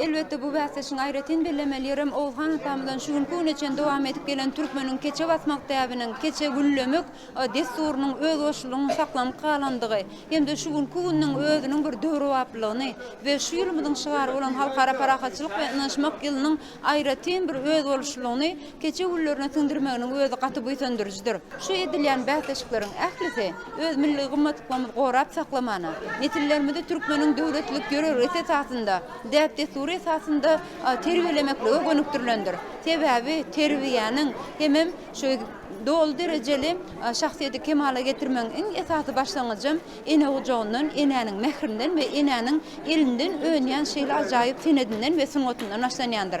Elbetde, bu bäsleşigiň aýratyn bellemeli ýerem Oguzhan atamyzdan şu günki güne çenli dowam edip gelen türkmeniň keçe basmak däbiniň, keçe güllemek dessurynyň özbaşlygynyň saklanyp galandygy hem-de şu günki günüň özüniň bir döwrebaplylygyny we şu ýylymyzyň şygary bolan Halkara parahatçylyk we ynanyşmak ýylynyň aýratyn bir özboluşlylygyny Keçe güllerine siňdirmeginiň özi gaty buýsandyryjydyr. Şu edilýän bäsleşikleriň ählisi öz milli gymmatlyklarymyzy gorap saklamana, nesillerimizi türkmeniň döwletlilik ýörelgesi esasynda, däp-dessury esasynda terbiýelemeklige gönükdirilendir. Sebäbi terbiýäniň hemem şu doly derejeli şahsyýeti kemala getirmegiň iň esasy başlangyjam ene gujagyndan, enäniň mährinden we enäniň elinden önýän şeýle ajaýyp senedinden we sungatyndan başlanýandyr.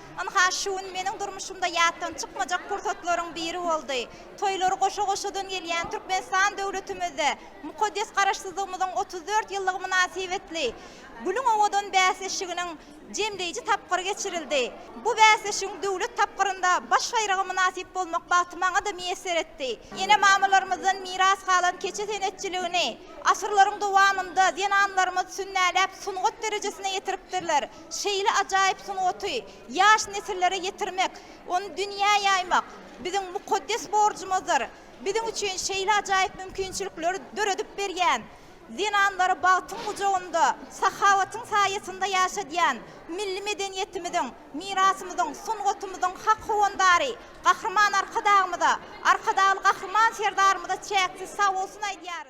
Ynha, şu gün meniň durmuşymda ýatdan çykmajak pursatlaryň biri boldy. Toýlary goşa-goşadan gelýän Türkmenistan döwletimizde mukaddes Garaşsyzlygymyzyň otuz dört ýyllygy mynasybetli Gülüň owadan bäsleşiginiň jemleýji tapgyry geçirildi. Bu bäsleşigiň döwlet tapgyrynda baş baýraga mynasyp bolmak bagty maňa-da miýesser etdi. Ene-mamalarymyzdan miras galan keçe senetçiligini asyrlaryň dowamynda zenanlarymyz sünnäläp, sungat derejesine ýetiripdirler. Şeýle ajaýyp sungaty ýaş nesillere ýetirmek, ony dünýä ýaýmak biziň mukaddes borjumyzdyr. Biziň üçin şeýle ajaýyp mümkinçilikleri döredip berýän, zenanlary bagtyň gujagynda, sahawatyň saýasynda ýaşadýan milli medeniýetimiziň, mirasymyzyň, sungatymyzyň hak howandary Gahryman Arkadagymyza, Arkadagly Gahryman Serdarymyza çäksiz sagbolsun aýdýarys.